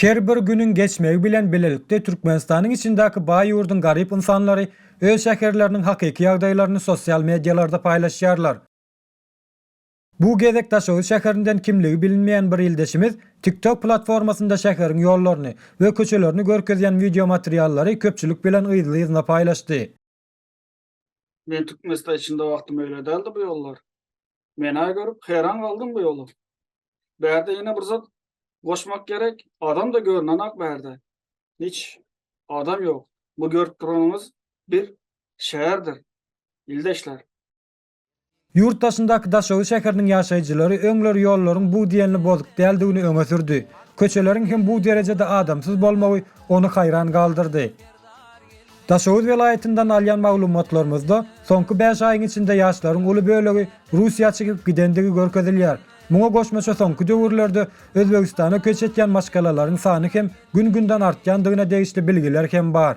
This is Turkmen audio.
Her bir günüň geçmegi bilen bilelikde Türkmenistanyň içindäki baý ýurduň garyp ynsanlary öz şäherleriniň hakyky ýagdaýlaryny sosial medialarda paýlaşýarlar. Bu gezek Daşoguz şäherinden kimligi bilinmeýän bir ildeşimiz TikTok platformasynda şäheriň ýollaryny we köçelerini görkezýän wideomateriallary köpçülik bilen yzly-yzyna paýlaşdy. Men Türkmenistan içinde wagty möýle däldi bu ýollar. Mena görüp heran galdym bu ýola. Bärde ýene bir zat goşmak gerek. Adam da görünenak bärde. Hiç adam ýok. Bu görüp duranyňyz bir şäherdir. Ildeşler. Ýurt daşyndaky Daşoguz şäheriniň ýaşaýjylary öňler ýollaryň bu diýenli bozuk däldigini öňe sürdi. Köçeleriň hem bu derejede adamsyz bolmagy ony haýran galdyrdy. Daşoguz welaýatyndan alýan maglumatlarymyzda soňky bäş aýyň içinde ýaşlaryň uly bölegi Russiýa çykyp gidendigi görkezilýär. Muňa goşmaça soňky döwürlerde Özbegistana köç etýän maşgalalaryň sany hem gün-günden artýandygyna degişli bilgiler hem bar.